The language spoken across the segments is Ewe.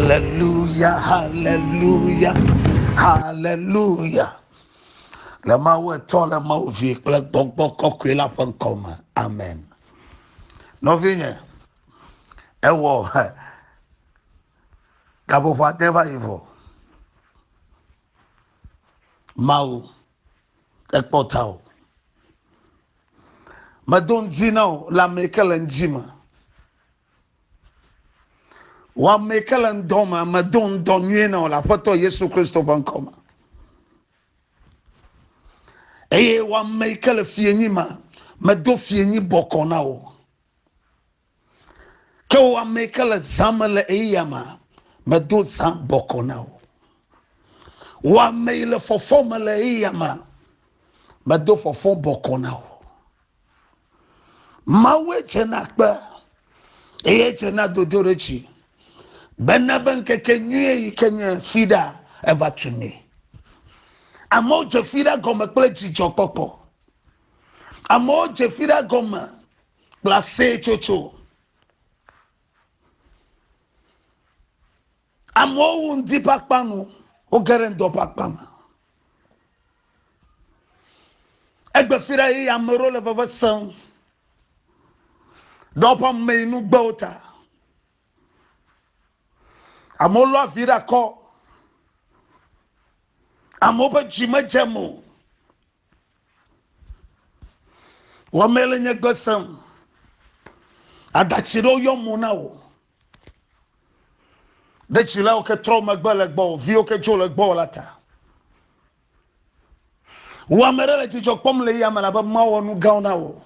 Hallelujah, hallelujah, hallelujah. Le Mawu etɔ le Mawu vi kple gbɔgbɔ kɔkɔe la ƒe ŋkɔ me. Amen. Nɔvinye, ewɔ he gaƒoƒo ade va yi vɔ. Mawu ekpɔ ta o. Medo ŋdi na o le ame yi ke le ŋdi me. Wɔame ke le ŋdɔ me, medo ŋdɔ nyuie nɔ le Aƒetɔ Yesu Kristo ƒe ŋkɔ me. Eye wɔame ke le fienyi me, medo fienyi bɔkɔ na wo. Ke wɔame ke le zã me le eya me, medo zã bɔkɔ na wo. Wɔame le fɔfɔ me le eya me, medo fɔfɔ bɔkɔ na wo. Mawue dzena kpe eye dzena dodoɖedzi bena be ŋkeke nyuie yi ke nye fiɖa eva tu nɛ. Amewo dze fiɖa gɔme kple dzidzɔkpɔkpɔ. Amewo dze fiɖa gɔme kple aseyetsotso. Amewo wu ŋdi ƒe akpa nu, woge ɖe ŋdɔ ƒe akpa me. Egbe fi ɖe eye ame ɖewo le veve sem ɖe woƒe ameyinugbewo ta. Amewo lɔ avi ɖe akɔ. Amewo ƒe dzi medzem o. Wɔmee le nye gbe sem. Aɖatsi ɖewo yɔ mo na wò. Ɖe dzilawo ke trɔ megbe le gbɔ, viwo ke dzo le gbɔ la ta. Wò ame ɖe le dzidzɔ kpɔm le yame labe mawɔ nu gãwo na wò.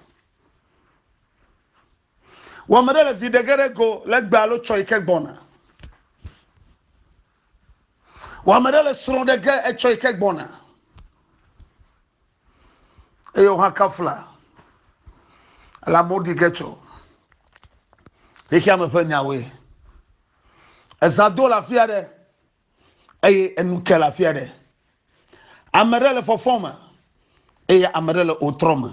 Wò ame ɖe le vi ɖege ɖe go le gbe alo tsɔ yi ke gbɔna. Wɔ ame ɖe le srɔ̃ ɖe ge etsɔ yi ke gbɔna. Eye wò hã kafla. Ele amewo ɖi ge tsɔ. Xexea me ƒe nyawoe. Eza do le afi aɖe. Eye enu ke le afi aɖe. Ame ɖe le fɔfɔ me. Eye ame ɖe le otrɔ me.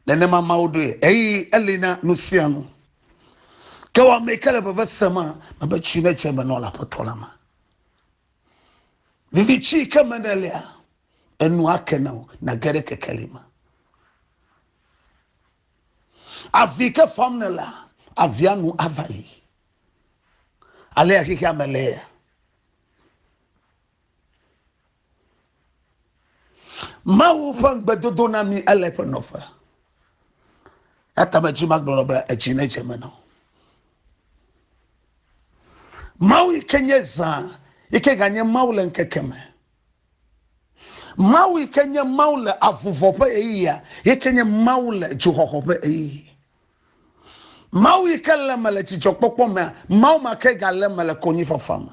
nenema mawo ɖoe eyi eli na nu sia nu ke wɔ ame ke le veve sema mebe tsi ne dze me nɔ le aƒetɔ la ma vivi tsi ke me ne lia enu ake na o na ge ɖe kekeli me avi ke fam ne la avia nu ava yi alea xexea me lea Mawu ƒe ŋugbedodo na mi ele eƒe nɔƒe. Eya ta medi magblɔ be edzi ne dze me na wo. Mawu yi ke nye zã yi ke ganye Mawu le ŋkeke me. Mawu yi ke nye Mawu le avuvɔ ƒe ɣeyiɣia yi ke nye Mawu le dzoxɔxɔ ƒe ɣeyiɣi. Mawu yi ke le me le dzidzɔkpɔkpɔ mea, Mawu ma ke gale me le konyifafa me.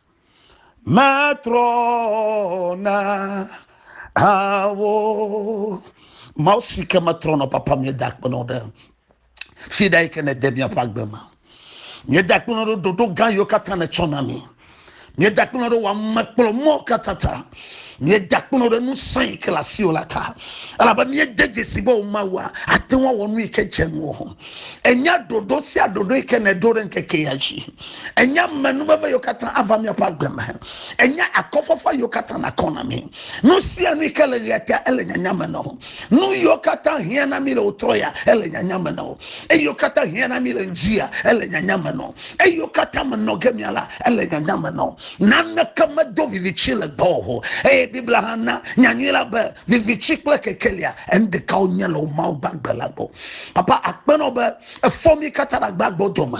matrɔ na awo mawu si ke metrɔ nɔ papa mi da kpenɔ ɖe fi ɖe yi ke ne de miaƒe agbe me mieda kpenɔ ɖe ɖoɖo gã yiwo katã netsɔ na mi mieda kpenɔ ɖe wɔ amekplɔmɔ katã ta míeda kpɔnɔ ɖe nu sã yi ke le asiwò la ta elabe míede dzesi be wò mawua ate ŋu awɔ nu yi ke dze ŋuwò enya ɖoɖo sia ɖoɖo yi ke nèɖo ɖe ŋkeke ya dzi enya menuveve yiwo katã ava míaƒe agbe me enya akɔfafa yiwo katã nakɔ na mí nu sia nu yi ke le ɣea ta ele nyanya me nɔ nu yiwo katã hiã na mí le wò trɔ ya ele nyanya me nɔ eye wo katã hiã na mí le ŋdi ya ele nyanya me nɔ eye wo katã menɔ ge mía la ele nyanya me nɔ Naneke medo viviti le gbɔwò o. Eye Biblia hã na nyanyui la be viviti kple kekelia, enu ɖeka wonye le wò Mawu gbagbe la gbɔ. Papa, akpe na wò be èfɔ mí katã ɖe agbe agbe dome.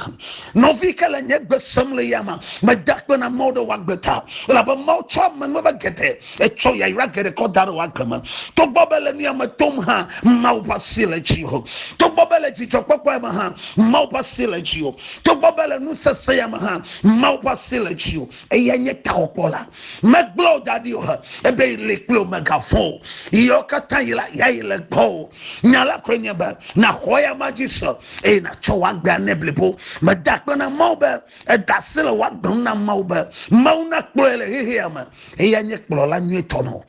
Nɔvi ke le nye gbe sem le yame. Meda akpe na Mawu ɖe wò agbe ta, elabe Mawu tsɔ amenuveve geɖe, etsɔ yayra geɖe kɔ da ɖe wò agbe me. Togbɔ be le nuya me tom hã, Mawu ƒe asi le dziwò. Togbɔ be le dzidzɔkpɔkpɔ ya me hã, Mawu ƒe asi le dziwò. Togbɔ be le nusesẽ ya me hã, Mawu ƒe asi le dziwò, eyae nye Taxɔkpɔla. Megblɔ wò da ɖi o, ebe yi li kple wò megavɔ̃ o. Ɣeyiɣiwo katã ɣi la, yeayi le gbɔwò. Nya la koe nye be, nàxɔ eyama dzi se, eye nàtsɔ wò agbea nɛ blibo. Meda akpe na Mawu be eɖe asi le wò agbe ŋu na Mawu be Mawu nakplɔe le xexea me. Eyae nye kplɔla nyuitɔ na wò.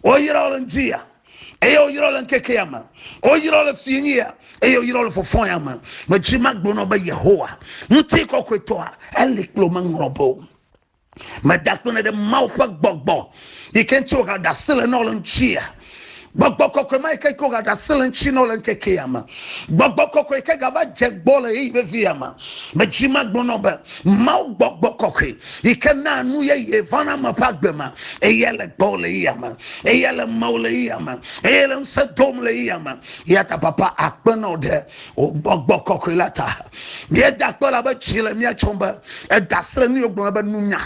Woyra wò le ŋdi ya. eye woyrɔ le ŋkekea me woyrɔ le finyia eye woyrɔ le fɔfɔya me medzi magbonɔ be yehowa ŋuti kɔkɔetɔa eli kplo meŋlɔ be o meda kpene ɖe mawu ƒe gbɔgbɔ yi ke ŋuti wogaɖe asi le nɔ le ŋutia gbɔgbɔ kɔkɔe ma yi ke ko gaɖe asi le ŋuti nɔ le ŋkekea me gbɔgbɔ kɔkɔe yi ke gava dze gbɔ le ɣeyiɣi vevia me medzi magbonɔ be mawu gbɔgbɔ kɔkɔe yi ke naa nu yeye vana ame ƒe agbe me eye le gbɔ le yia me eye le mawò le yia me eye le ŋusẽ dom le yia me ya ta papa akpe na wò ɖe wò gbɔgbɔ kɔkɔe la ta míeda akpe la be tsi le mía tsɔm be edasi le nuyogblɔna be nunya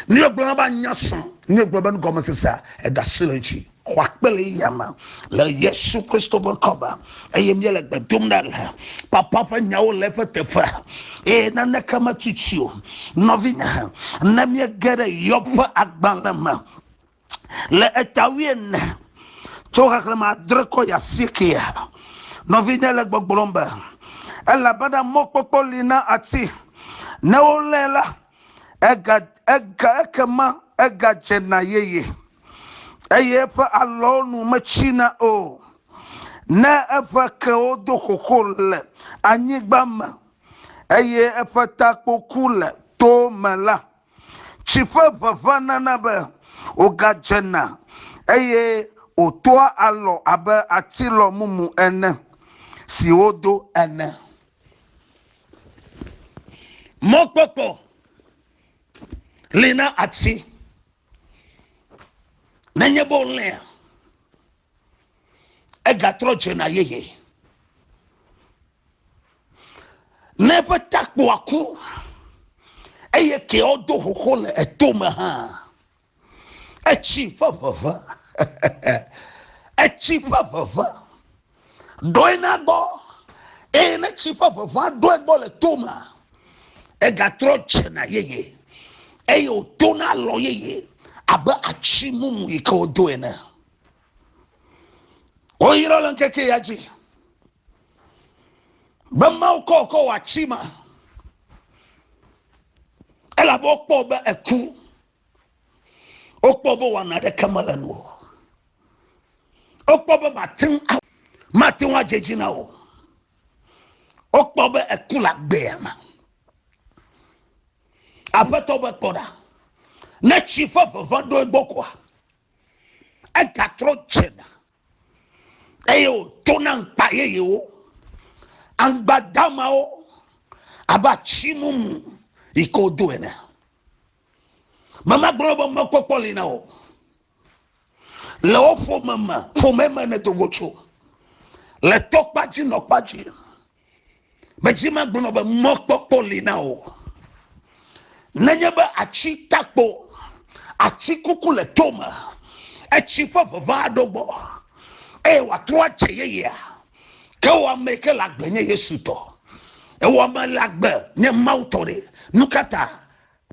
nuyogblɔna be anya sɔ nuyogblɔ be nugɔmesesea edasi le dzi xɔ akpele yame le yesu kristo ƒe ŋkɔ me eye míele gbe dom ɖa le papa ƒe nyawo le eƒe teƒe eye naneke metuti o nɔvinye ne míege ɖe yɔb ƒe agbalẽ me le eta wuiene tso xexlẽme adre kɔ yi asiekea nɔvinye le gbɔgblɔm be elabena mɔkpɔkpɔ li na ati ne wolé la ekema egadzena yeye, eye eƒe alɔwo nu metsina o. Ne eƒe kewo do xoxo le anyigba me, eye eƒe takpo ku le towo me la, tsi ƒe ʋeʋẽ nana be wògadzena, eye wòtoa alɔ abe atilɔ mumu ene si wodo ene. Mɔkpɔkpɔ li na ati. Nenye be wolẽa, egatrɔ dzena yeye. Ne eƒe takpoa ku eye keawo do xoxo le etome hã, Etsi ƒe ʋeʋẽ, etsi ƒe ʋeʋẽ ɖɔe na gbɔ, eye ne tsi ƒe ʋeʋẽa ɖɔe gbɔ le to mea, egatrɔ dzena yeye, eye wòtona alɔ yeye abe atsi mumu yi ke wodo ene. Woyrɔ le ŋkeke ya dzi be Mawu kɔ wòkɔ wɔ atsi ma, elabe wokpɔ be eku. wokpɔ be wɔna ɖeke mele nu o wokpɔ be mate ŋu mate ŋu adze dzi na o wokpɔ be eku le agbea me aƒetɔ be kpɔ ɖa ne tsi ƒe ʋeʋẽ ɖo egbɔ koa egatrɔ dzena eye wòtona ŋkpa yeyewo aŋgbadamawo abe atsi mumu yi ke wodo ene memagblɔ be mekpɔkpɔ li na o le wo ƒome me ƒome me ne dogo tso le tɔkpadzi nɔkpadzi Medzi megblɔ be mɔkpɔkpɔ li na wò. Nenye be atsi takpo, atsi kuku le tome, etsi ƒe ʋeʋã aɖo gbɔ, eye wòatrɔ adze yeyea, ke wò ame yi ke le agbe nye Yesu tɔ. Ewɔ ame le agbe nye Mawu tɔ ɖe. Nu ka ta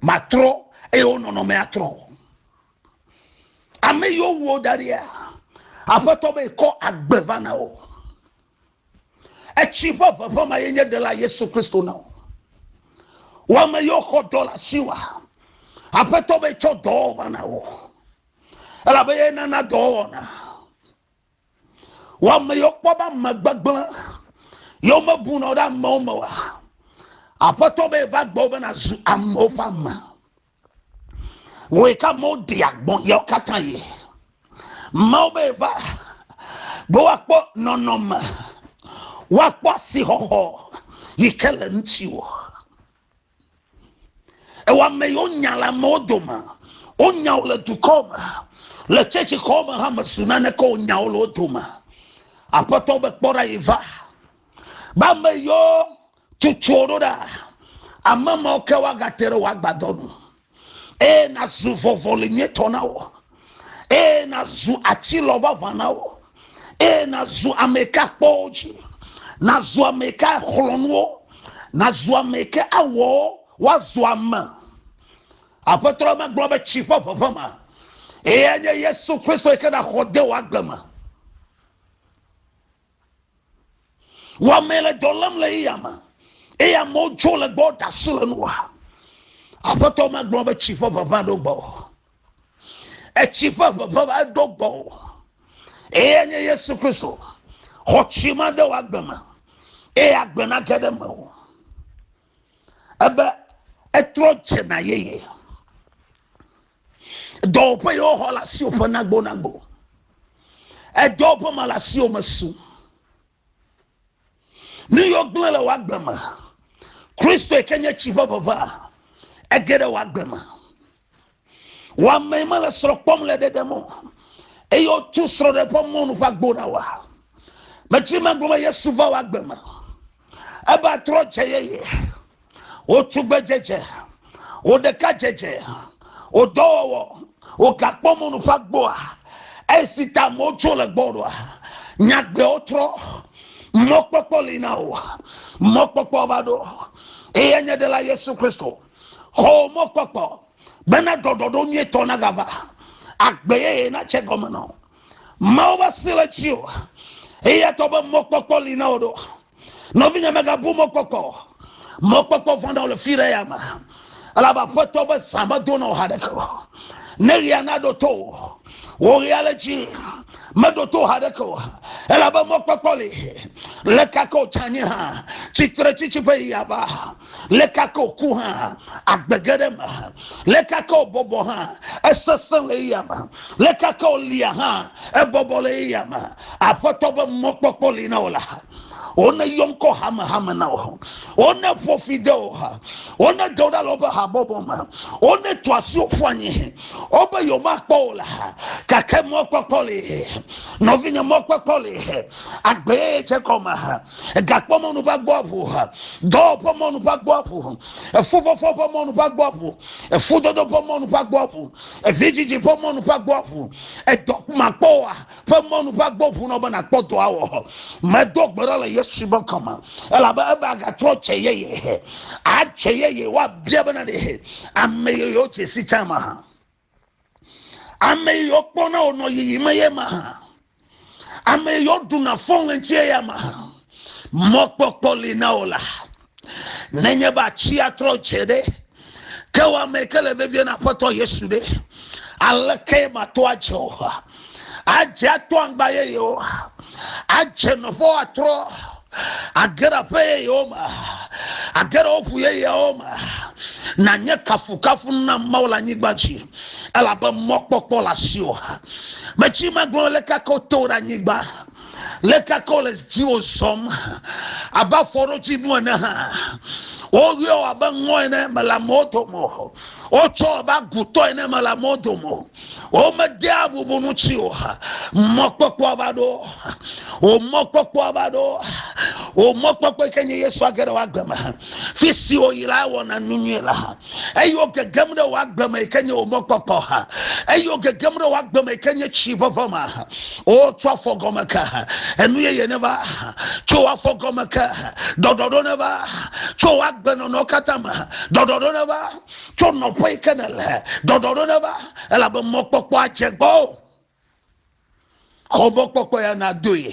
matrɔ eye wo nɔnɔme atrɔ? Ame yiwo wu wo da ɖia, Aƒetɔ be kɔ agbe va na wo. Etsi ƒe ʋeʋẽ ma ye nye Ɖela Yesu Kristo na wò. Wò ame yiwo xɔ dɔ le asiwòa, Aƒetɔ be tsɔ dɔwɔwɔ va na wò, elabe ye nana dɔwɔwɔna. Wò ame yiwo kpɔ be ame gbegblẽ, yewo mebuna wo ɖe amewo me oa, Aƒetɔ be va gbɔ be nàzu amewo ƒe ame. Wòe ka amewo ɖi agbɔ̃ yawo katã yi. Mawu be va be woakpɔ nɔnɔme, woakpɔ asixɔxɔ yi ke le ŋutiwò. Ewɔ ame yiwo nya le amewo dome, wonya wò le dukɔ me, le tsetsixɔ me hã mesu nane ke wonya wò le wo dome. Aƒetɔ be kpɔ ɖa yi va. Be ame yiwo Tsotso ɖo ɖa, ame mawo ke woagate ɖe wò agbadɔ nu, eye nàzu vɔvɔli nyuitɔ na wo, eye nàzu atilɔ vavã na wo, eye nàzu ame ka kpɔwo dzi, nàzu ame ka xlɔ nuwo, nàzu ame ke awɔ woazu ame. Aƒetɔ la megblɔ be tsi ƒe ʋeʋe ma, eye enye Yesu Kristo yi ke ɖaxɔ de wò agbe me. Wɔmee le dɔ lém le eya me, eye amewo dzo le gbɔ ɖe asi le nua. Aƒetɔ magblɔ be tsi ƒe ʋeʋẽ aɖo gbɔ o. Etsi ƒe ʋeʋẽ aɖo gbɔ o. Eye nye Yesu Kristo. Xɔ tsi ma de wò agbe me, eye agbe nage ɖe me o. ebe etrɔ dze na yeye. Dɔwɔƒe yi woxɔ le asiwò ƒe nagbonagbo. Edɔwɔƒe ma le asiwò me su. Nu yiwo gblẽ le wò agbe me. Kristo yi ke nye tsi ƒe ʋeʋã ege ɖe wò agbe me. Wɔ amee mele srɔ̃ kpɔm le ɖeɖem o. Eye wotu srɔ̃ ɖe ƒe mɔnu ƒe agbo na wa. Metsi megblɔ be Yesu va wɔ agbe me. Ebe atrɔ dze yeye. Wotu gbedzedze. Wo ɖeka dzedze. Wo dɔwɔwɔ. Wo gakpɔ mɔnu ƒe agboa. Eye si ta amewo tso le gbɔ ɖoa. Nyagbewo trɔ. Mɔkpɔkpɔ li na wo. Mɔkpɔkpɔ va ɖo. Eye nye ɖela Yesu Kristo. Xɔ mɔkpɔkpɔ bena ɖɔɖɔɖo nyuitɔ nagava, agbe yeye natse gɔme nɔ. Mawu ƒe asi le dzi o, eya tɔ be mɔkpɔkpɔ li na wò ɖo. Nɔvinye megabu mɔkpɔkpɔ, mɔkpɔkpɔ vɔ̃ɖewo le fi ɖe ya me, elabe aƒetɔ be zã medo na wò haɖeke o. Ne ɣea naɖo to wò, wò ɣea le dzi meɖo to haɖeke o, elabe mɔkpɔkpɔ li, le kake wò tsã nye hã, tsitretsitsi ƒe ɣi ava. leka ke wòku hã agbe ge ɖe eme leka ke wòbɔbɔ hã esesẽ le eya me leka ke wòlia hã ebɔbɔ le eya me aƒetɔ be mɔkpɔkpɔ li na wò la wone yɔ ŋkɔ hamehame na wò wone ƒo fi de wò ha wone ɖe wò ɖa le woƒe habɔbɔ me wone tu asi wò ƒu anyi wobe yewomakpɔ wò la gake mɔkpɔkpɔ li nɔvinye mɔkpɔkpɔ li agbeyeye dze gɔme egakpɔ mɔnu va gbɔ aƒo ha dɔwɔƒe mɔnu va gbɔ aƒo ha efufɔfɔ ƒe mɔnu va gbɔ aƒo efudodo ƒe mɔnu va gbɔ aƒo evidzidzi ƒe mɔnu va gbɔ aƒo edɔ makpɔ wa ƒe mɔnu va gbɔ ƒo na be nakpɔ dɔ awɔ hɔ medo gbe ɖa le yesu be kɔme elabe ebe agatrɔ tse yeye atse yeye woabia bena ɖe ame yeyewo tse si tse ma ha. ame yi yɔ kpɔna wònɔ yiyim eye ma hã ame yi yɔ ɖuna fɔŋlɛntsi eya ma hã mɔkpɔkpɔ li na wò la nenye be atsi atrɔ dze ɖe ke wɔ ame ke le vevie na aƒetɔ yesu ɖe aleke ma to adze o adze ato aŋgba yeyewo adze nɔƒewo atrɔ age ɖe aƒe yeyewo me age ɖe woƒu yeyewo me nanye kafukafu na mawu le anyigba dzi elabe mɔkpɔkpɔ le asiwò metsi magblɔ le kakɔ to ɖe anyigba le kakɔ le dziwò zɔm abe afɔɖotsi nu ene hã woyɔ abe ŋɔ ene mele amewo dome o wotsɔ abe agutɔ ene mele amewo dome o wo me de abubu nu tsi o mɔkpɔkpɔ va ɖo o mɔkpɔkpɔ va ɖo o mɔkpɔkpɔ yi ke nye yesu age ɖe wagbe me fi si wo yi la wɔna nu nyuie le ha eye wo gegem ɖe wagbe me yi ke nye o mɔkpɔkpɔ ha eye wo gegem ɖe wagbe me yi ke nye tsi ʋeʋe ma ha o tso afɔ gɔme ke ha enu yeye ne va tso afɔ gɔme ke ha ɖɔɖɔɖo ne va tso wagbe nɔnɔ katã me ha ɖɔɖɔɖo ne va tso nɔƒe yi ke nèle ɖɔɖɔɖo neva elabe mɔkpɔkpɔ adze gbɔo xɔ mɔkpɔkpɔ ya nadoe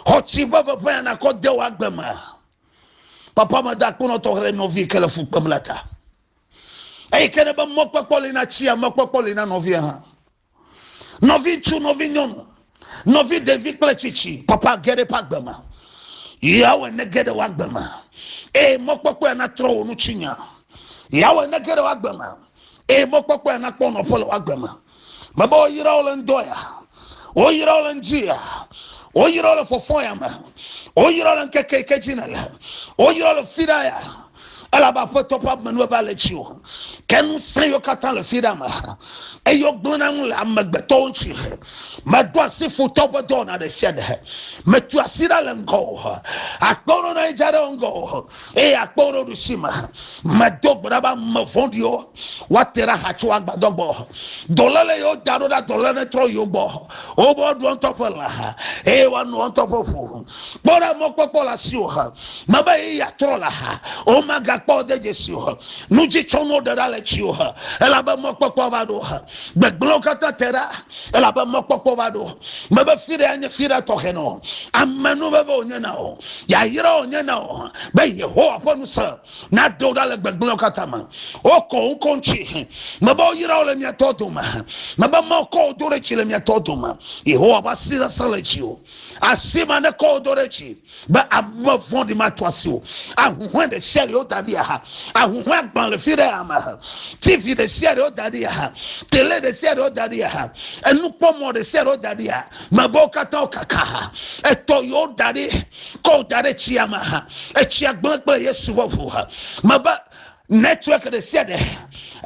xɔ tsi ƒe ʋeʋẽ ya nakɔ de wò agbe me papa meda akponɔtɔ xlẽ nɔvi yi ke le fu kpem la ta eyi ke ne be mɔkpɔkpɔ li na tsia mɔkpɔkpɔ li na nɔvia hã Nɔvi ŋutsu, nɔvi nyɔnu, nɔvi ɖevi kple tsitsi, papa ge ɖe eƒe agbe me. Yeawɔe ne ge ɖe wòagbe me. Eye mɔkpɔkpɔe natrɔ wò nu tsi nya. Yeawɔe ne ge ɖe wòagbe me. Eye mɔkpɔkpɔe nakpɔ nɔƒe le wòagbe me. Mebe woyra wo le ŋdɔ ya. Woyra wo le ŋdi ya. Woyra wo le fɔfɔ ya me. Woyra wo le ŋkeke yi ke dzi nèle. Woyra wo le fiɖa ya. elabe aƒetɔ ƒe amenuveve le etsi o ke ŋusẽ yiwo katã le fi ɖe ame ha eye wogblẽna ŋu le amegbetɔwo ŋuti he meɖo asi futɔwo ƒe dɔwɔna ɖe sia ɖe he metu asi ɖa le ŋgɔ o he akpɔ wo ɖo na yedza ɖe wo ŋgɔ o he eye akpɔ wo ɖo ɖusi me he medo gbe ɖa be ame vɔ̃ɖiwo woate ɖa ha tso agbadɔ gbɔ dɔlé le yewo da ɖo ɖa dɔlé ne trɔ yewo gbɔ wobe woɖu ŋutɔ ƒe lã eye woanu ŋutɔ ƒe ʋu kpɔ ɖe mɔkpɔkpɔ le asi o mebe ye yeatrɔ le ha womagakpɔ de dzesi o nu dzi tsɔ nuwo ɖe ɖa le tsi o elabe mɔkpɔkpɔ va ɖo gbegblẽwo katã te ɖa elabe mɔkpɔkpɔ va ɖo mebe fi ɖe anye fi ɖe tɔxɛ nɔ ame nu veve wònye na o yayra wònye na o be yehowa ƒe nu sè na do ɖa le gbegblẽwo katã me wokɔ wo ŋkɔ ŋuti mebe woyra wo le mia tɔ dome mebe mekɔ wo do ɖe dzi le mia tɔ dome yehowa ƒe asi sesẽ le dzi o asi ma ne kɔ wo do ɖe dzi be ame vɔ̃ɖi mato asi o ahuhɔe ɖe sia ɖe wo da ɖi aha ahuhɔe agbã le fi ɖe ame ha tv ɖe sia ɖe wo da ɖi aha tele ɖe sia ɖe wo da ɖi aha enukpɔmɔ ɖe sia ɖe wo da ɖi aha mebe wo katã wo kaka ha etɔ yewo da ɖi kɔ da ɖe tsia me ha etsia gblẽ kple yesu ƒe ʋu ha mebe network ɖe sia ɖe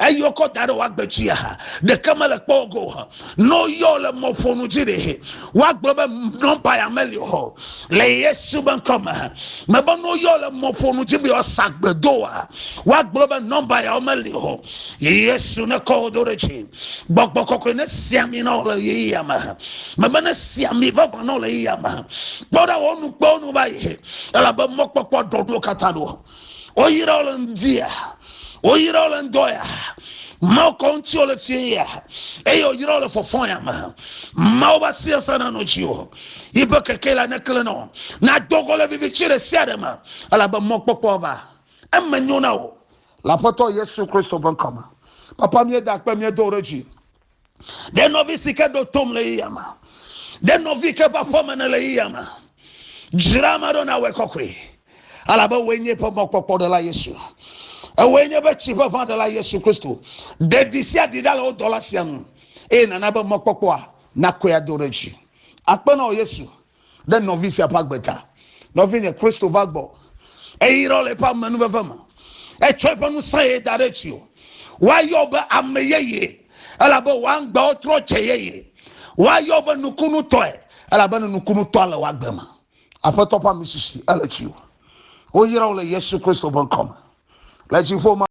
eyi wokɔ da ɖe woagbe dzia ha ɖeke mele kpɔ go ha ne woyɔ le mɔƒonu dzi ɖe woagblɔ be nɔmba ya meli o le yesu be ŋkɔ me ha mebe ne woyɔ le mɔƒonu dzi be woasa gbedoa woagblɔ be nɔmba ya meli o yesu ne kɔ wo do ɖe dzi gbɔgbɔ kɔkɔe ne si ami na wò le ɣeyiɣia me mebe ne si ami vavã na wò le ɣeyiɣia me kpɔ ɖa wò nu kpɔ nu va yi elabe mɔkpɔkpɔ ɖɔ ɖo katã ɖo woyra wò le ŋdia woyra wò le ŋdɔ ya mawo kɔ ŋuti wò le fie ya eye woyra wò le fɔfɔ ya me mawo va si esa na nɔ dzi o yiƒe keke la nekle nɔ nadɔ gɔ le vivi tsi ɖe sia ɖe me elabe mɔkpɔkpɔ va eme nyo na wò Le Aƒetɔ Yesu Kristo ƒe ŋkɔ me, papa míeda akpe míedo wo ɖe dzi. Ɖe nɔvi si ke ɖo tom le yiyam, ɖe nɔvi ke ƒe aƒeme ne le yiyam, dzra ame aɖewo nawɔe kɔkɔe, elabe wòe nye eƒe mɔkpɔkpɔ ɖela Yesu. Ewɔe nye eƒe tsi ƒe ʋã ɖela Yesu Kristo. Ɖe ɖi sia ɖi ɖa le wo dɔla sia nu, eye nàna be mɔkpɔkpɔa nakɔe ado ɖe dzi. Akpe na wò Yesu ɖe nɔvi sia ƒe agbe ta. Nɔvinye Kristo va gbɔ. Eyra le eƒe amenuveve me. Etsɔ eƒe ŋusẽe da ɖe tsiwò. Woayɔ be ame yeye, elabe wò aŋgbawo trɔ dze yeye. Woayɔ be nukunutɔe, elabe nukunutɔa le wò agbe me. Aƒetɔ ƒe amisisi ele tsiwò. Woyra wò le Yesu Kristo ƒe ŋkɔ me. Le dziƒo ma.